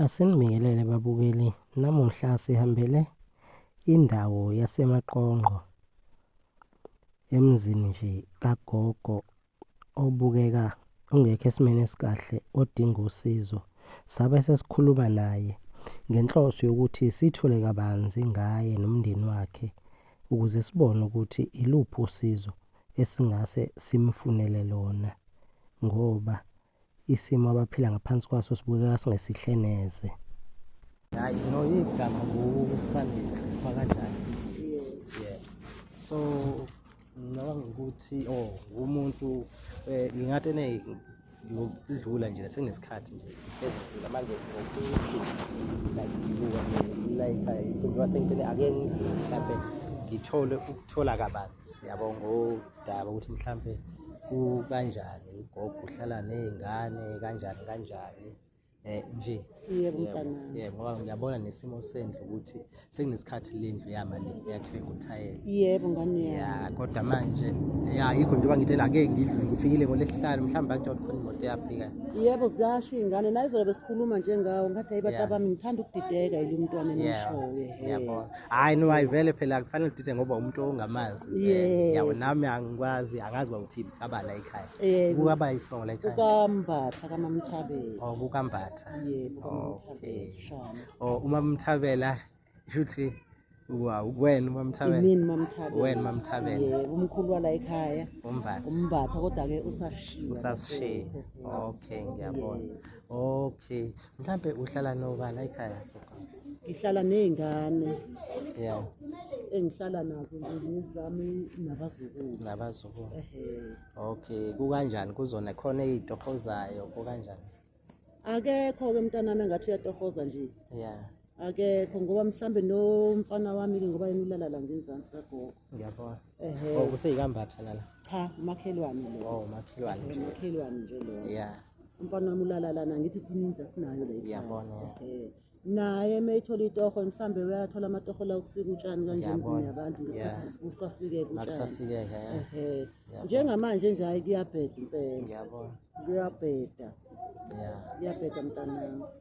Asinibingelele babukeli, namuhla sihambele indawo yaseMaqongqo emzini nje kagogo obukeka ungekho esimeni esikahle odinga usizo. Sabe sesikhuluma naye ngenhloso yokuthi sithule kabanzi ngaye nomndeni wakhe ukuze sibone ukuthi iluphi usizo esingase simfunele lona ngoba Isimo abaphila ngaphansi kwaso sibukeka singesihle neze. Hayi no igama nguSandile Fakajani. Yeah. So ngicabanga ukuthi oh umuntu eh ngingathi ene ngokudlula nje senesikhathi nje sezidlula manje ngokuthi like ngibuka like ayikho wasentene ake ngidlule mhlambe ngithole ukuthola kabanzi yabo ngo daba ukuthi mhlampe kukanjani ugogo uhlala nezingane kanjani kanjani eh nje yebo mntana yebo ngoba ngiyabona nesimo sendlu ukuthi sekunesikhathi lendlu yama le yakhiwe ngothayela yebo ngane ya kodwa manje ya yikho njengoba ngithe la ke ngidlule ngifikile ngolesihlanu mhlawumbe bakuthi khona imoto yafika yebo ziyasho ingane naye izolo besikhuluma njengawo ngathi ayibata bami ngithanda ukudideka yilo mntwana enishoyo yebo hayi no ayivele phela kufanele udide ngoba umuntu ongamazi Eh, yabo nami angikwazi angazi uba uthini kabala ekhaya Eh, kukaba isibongo la ekhaya kukambatha kamamthabela or kukambatha yebo Okay. kamamthabela shana or uma mthabela shuthi wa- wena uma mthabela imini mamthabela Wena uMamthabela. yebo umkhulu wala ekhaya umbatha umbatha kodwa-ke usashiya usasishiya lapho. okay ngiyabona Yebo. okay mhlampe uhlala nobala ekhaya ngihlala ney'ngane ya engihlala nazo nje nezami nabazukulu nabazukulu ehe okay kukanjani kuzona khona ey'tohozayo kukanjani akekho-ke umntanami engathi uyatohoza nje ya akekho ngoba mhlawumbe nomfana wami-ke ngoba yena ulala la ngenzansi kagogo ngiyabona Ehhe. Oh kuseyikambatha lana. Cha, umakhelwane lo. Oh makhelwane. nje. Umakhelwane nje lo. Yeah. Umfana wami ulala lana ngithi thina indlu asinayo la. ekhaya. Ngiyabona, yeah. Ehhe. Naye uma ethola itoho mhlambe uyathola amatoho la okusika utshani kanje Ngiyabona, emzini yabantu ngesikhathi yeah. kusasikeka utshani. Makusasikeka yeah. Ehhe. Ngiyabona. Njengamanje nje hayi kuyabheda impela. Ngiyabona. Kuyabheda. Yeah. Kuyabheda mntanami.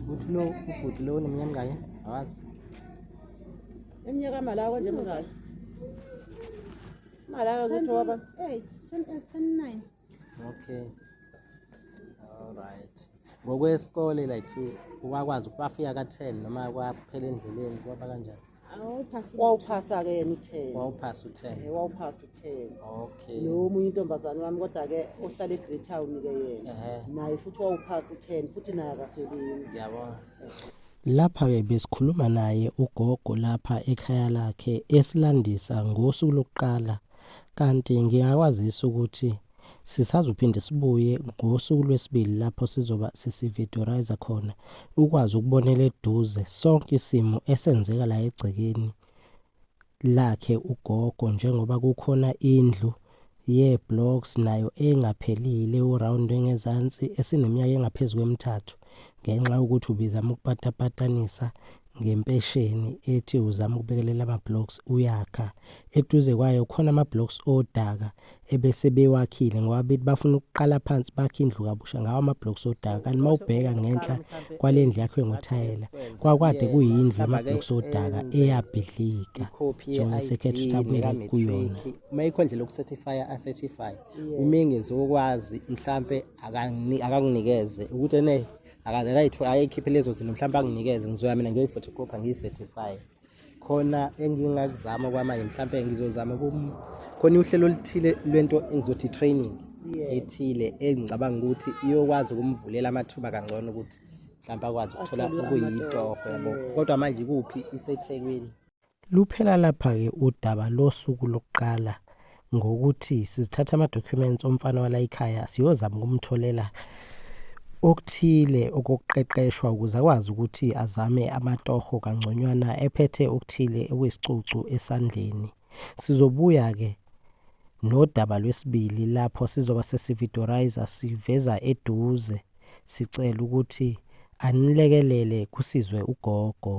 Ukuthi lo ubhuti lo uneminyaka mingaki? Awazi. Iminyaka malawa nje mingaki? Malawa ukuthi waba 29. Okay. All right. Ngokwesikole like wakwazi ukufika ka 10 noma kwaphela endleleni kwaba kanjani? wawuphasa ke yena u-ten wawuphasa u-ten eh, wawuphasa u-ten okay lo omunye intombazane wami kodwa-ke ohlala e-great town-ke yena naye futhi wawuphasa u-ten futhi naye akasebenzi yabona Lapha-ke besikhuluma naye ugogo lapha ekhaya lakhe esilandisa ngosuku lokuqala kanti ngingakwazisa ukuthi Sisazophinde sibuye ngosuku lwesibili lapho sizoba sesividorayiza khona ukwazi ukubonela eduze sonke isimo esenzeka la egcekeni lakhe ugogo njengoba kukhona indlu ye-blocks nayo engaphelile uround engezansi esineminyaka engaphezu kwemithathu. ngenxa yokuthi ubizama ukupatapatanisa ngempesheni ethi uzama ukubekelela ama-blocks uyakha eduze kwayo khona ama-blocks odaka ebese bewakhile ngoba bethi bafuna ukuqala phansi bakhe indlu kabusha ngawo ama-blocks odaka kanti uma ubheka ngenhla kwale ndlu yakhe ngothayela kwakwade kuyindlu ama-blocks odaka eyabhidlika sona sekhetha ukuthi abuyele kuyona uma ikho ndlela yokucertifya acertify umengezi wokwazi mhlampe akanginikeze ukuthi ene ayikhiphe lezo zinto mhlawumbe anginikeze ngizoya mina ngiyoyi-photocopha ngiyi-certify khona engingakuzama kwamanje mhlawumbe ngizozama khona uhlelo oluthile lwento engizothi training ethile engicabanga ukuthi iyokwazi ukumvulela amathuba kangcono ukuthi mhlawumbe akwazi ukuthola okuyitoho yabo kodwa manje kuphi isethekwini Luphela lapha-ke udaba losuku lokuqala ngokuthi sizithatha ama-documents omfana walayikhaya siyozama ukumtholela okuthile okokuqeqeshwa ukuze akwazi ukuthi azame amatoho kangconywana ephethe okuthile okuyisicucu esandleni. Sizobuya-ke nodaba lwesibili lapho sizoba sesividoriza siveza eduze sicela ukuthi anilekelele kusizwe ugogo.